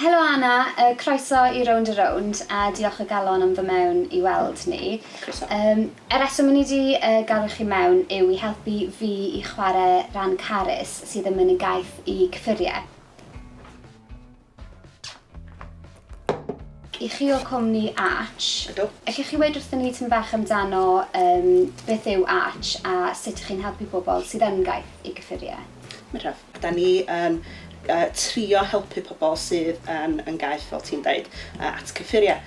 Helo Anna, croeso i Rownd a Rownd a diolch o galon am fy mewn i weld ni. Croeso. Y reswm o'n i 'di galw chi mewn yw i helpu fi i chware ran Carys sydd yn mynnu gaeth i cyffurie. I chi o cwmni Arch. Ydw. Ellwch chi weud wrthon ni tym bach amdano beth yw Arch a sut 'ych chi'n helpu pobl sydd yn gaeth i gyffurie? Medraf. Da ni yn trio helpu pobl sydd yn yn gaeth, fel ti'n deud, at cyffuriau.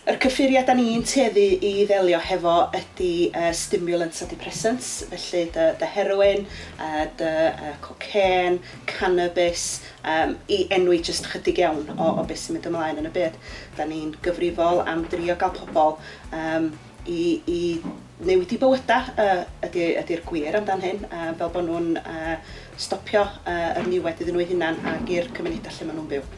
Yr cyffuriau da ni'n tueddu i ddelio hefo ydy stimulants a depressants, felly dy dy heroin, dy cocên, cannabis, i enwi jyst chydig iawn o o beth sy'n mynd ymlaen yn y byd. Da ni'n gyfrifol am drio gael pobl i i newid eu bywydau ydy ydy'r gwir amdan hyn a fel bod nhw'n stopio yr niwed iddyn nhw eu hunain ac i'r cymunedau lle maen nhw'n byw.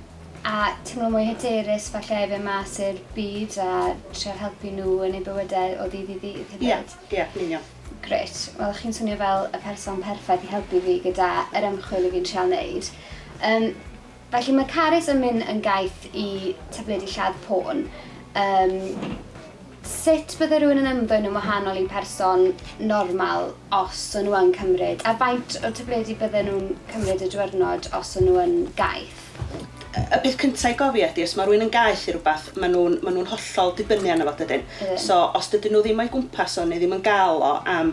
A teimlo mwy hyderus falle i fynd mas i'r byd a trio helpu nhw yn eu bywydau o ddydd i ddydd hefyd. Ia, ia, yn union. Grêt. Wel chi'n swnio fel y person perffaith i helpu fi gyda yr ymchwil 'yf fi'n trial neud. Yym Felly mae Carys yn mynd yn gaeth i tabledi lladd pôn. Yym, sut bydde rhywun yn ymddwyn yn wahanol i person normal os o'n nhw yn cymryd, a faint o tabledi bydden nhw'n cymryd y diwyrnod os o'n nhw yn gaeth? Y peth cynta i gofio ydi os mae rhywun yn gaeth i rywbeth, mae nhw'n, mae nhw'n hollol dibynnu arno fo, dydyn? Ydyn. So, os dydyn nhw ddim o'i gwmpas o neu ddim yn gael o am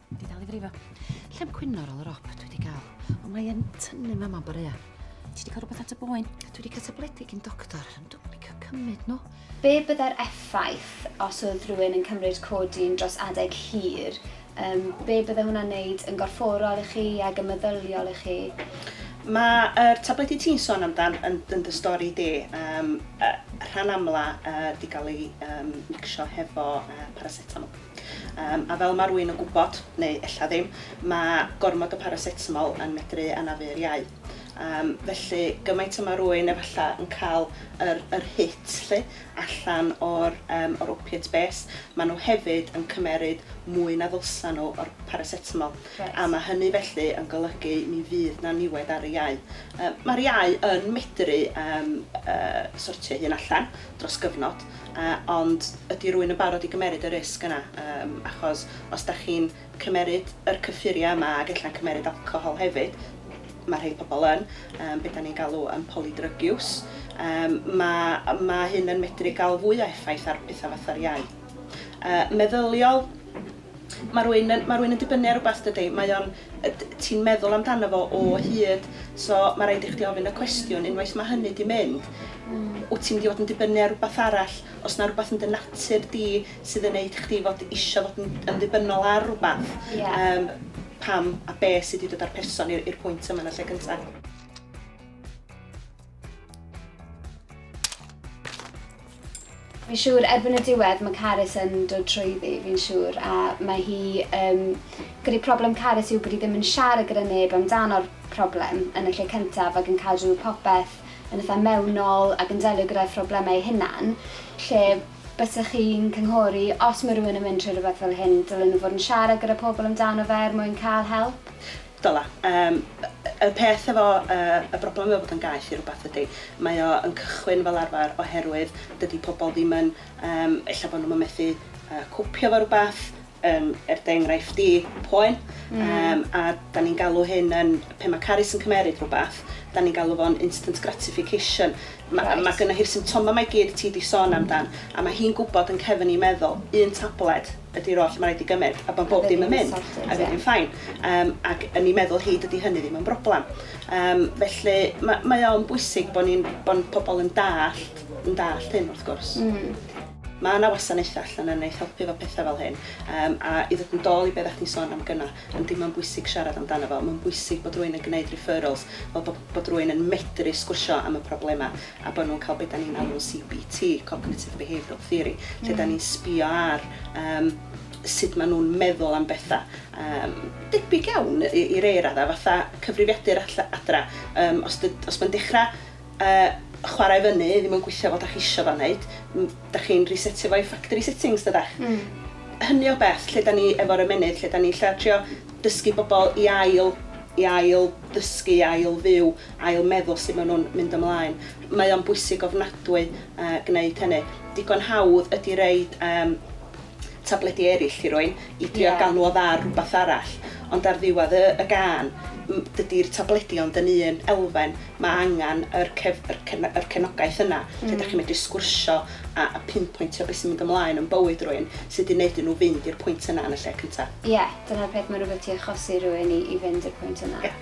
Di dal i frifo. Lle'n cwyno ar ôl yr op, dwi wedi cael. Ond mae yn tynnu mam am borea. Ti wedi cael rhywbeth at y boen? Dwi wedi cael tabledig i'n doctor, ond dwi'n mynd cael cymryd nhw. Be byddai'r effaith os oedd rhywun yn cymryd codin dros adeg hir? Um, be byddai hwnna'n neud yn gorfforol i chi ac yn meddyliol i chi? Mae'r er tabledi ti'n son amdan yn, yn dy stori di, um, uh, rhan amla uh, di gael ei um, mixio hefo uh, paracetamol. Yym, a fel ma' rwy'n yn gwybod, neu ella ddim, mae gormod o paracetamol yn medru anafu'r iau. Yym, felly, gymaint y ma' rwy'n efalla yn cael yr yr hit 'lly allan o'r yym o'r opiate base, ma' nhw hefyd yn cymeryd mwy na ddylsa nhw o'r paracetamol. Reit. A ma' hynny felly yn golygu mi fydd 'na niwed ar y iau. Yym, ma'r iau yn medru yym yy sortio'i hun allan. dros gyfnod, ond ydy rwy'n yn barod i gymeryd y risg yna, achos os da chi'n cymeryd yr cyffuriau yma ac ella'n cymeryd alcohol hefyd, mae rhai pobl yn, be da ni'n galw yn polydrygiws, mae hyn yn medru cael fwy o effaith ar bethau fatha'r iau meddyliol. Mae rhywun yn, mae rhywun yn dibynnu ar rhywbeth dydy, mae o'n, ti'n meddwl amdano fo o hyd, so mae rhaid i chdi ofyn y cwestiwn, unwaith mae hynny di mynd, mm. wyt ti'n mynd i fod yn dibynnu ar rhywbeth arall, os na rhywbeth yn dy natur di sydd yn neud chdi fod eisiau fod yn, yn ddibynnol ar rhywbeth, yeah. um, pam a be sydd wedi dod â'r person i'r pwynt yma yn y lle cyntaf. Fi'n siŵr erbyn y diwedd mae Carys yn dod trwyddi, fi'n siŵr, a mae hi um, gyda'i problem Carys yw bod hi ddim yn siarad gyda neb amdano'r problem yn y lle cyntaf ac yn cadw popeth yn eitha mewnol ac yn delio gyda'i phroblemau ei hunan, lle bysych chi'n cynghori os mae rhywun yn mynd trwy rhywbeth fel hyn, dylen nhw fod yn siarad gyda pobl amdano fe er mwyn cael help. Dyla. Yym, y peth efo yy y broblem efo bod yn gaeth i rywbeth ydi, mae o yn cychwyn fel arfer oherwydd dydi pobl ddim yn, yym, ella bod nhw'm yn methu yy copio efo rywbeth, yym, er dy enghraifft di, poen. Mm. Yym, a 'dan ni'n galw hyn yn, pe ma' Carys yn cymeryd rywbeth, 'dan ni'n galw fo'n instant gratification. Ma'... Reit. ...ma' gynna hi'r symptoma 'ma i gyd ti di sôn amdan, a ma' hi'n gwbod yn cefn 'i meddwl, un tabled, ydi'r oll ma' raid i gymed a bo bob dim yn mynd a fydd hi'n ffain yym ac yn i meddwl hi dydi hynny ddim yn broblam yym felly ma' mae o'n bwysig bo ni'n bo n- pobol yn dallt yn dallt hyn wrth gwrs. Hmm. Ma' 'na wasanaetha allan yn neith helpu efo petha fel hyn yym a i ddod yn dôl i be oddach chdi'n sôn am gynna yym dim ond bwysig siarad amdano fo ma'n bwysig bod rywun yn gneud referrals fel bo bod rywun yn medru sgwrsio am y problema a bod nhw'n cael be dan ni'n alw'n CBT, Cognitive Behavioural Theory, lle dan ni'n sbio ar um, sut maen nhw'n meddwl am bethau. Um, debyg iawn i, i rei raddau, fatha cyfrifiadur adra. Um, os, os mae'n dechrau uh, chwarae fyny, ddim yn gweithio fel da chi eisiau fan wneud, da chi'n resetio fo i factory settings, dydach. Mm. Hynny o beth, lle da ni efo'r ymenydd, lle da ni lle trio dysgu bobl i ail, i ail ddysgu, i ail fyw, ail-meddwl sut maen nhw'n mynd ymlaen. Mae o'n bwysig ofnadwy gwneud hynny. Digon hawdd ydy roid tabledi eraill i rywun i drio gael nhw odda ar rhywbeth arall, ond ar ddiwedd y gân, dydy'r tabledi ond yn un elfen, mae angen yr cefnogaeth yna lle dach chi'n medru sgwrsio a pinpointio beth sy'n mynd ymlaen yn bywyd rywun sydd wedi gwneud i nhw fynd i'r pwynt yna yn y lle cyntaf. Ie, dyna'r peth, mae'n rhywbeth ti'n achosi rhywun i fynd i'r pwynt yna.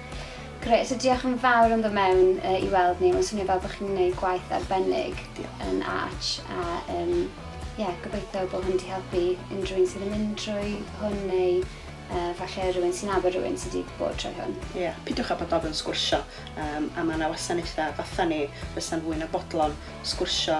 Grêt, so diolch yn fawr am ddod mewn i weld ni, mae'n swnio fel bod chi'n gwneud gwaith arbennig yn Arch a um, yeah, gobeithio bod hwn wedi helpu unrhyw un sydd yn mynd drwy hwn neu uh, falle rhywun sy'n nabod rhywun sydd wedi bod trwy hwn. Ie, yeah, pidiwch â bod ofyn sgwrsio um, a mae yna wasanaethau fatha ni fysa'n fwy na bodlon sgwrsio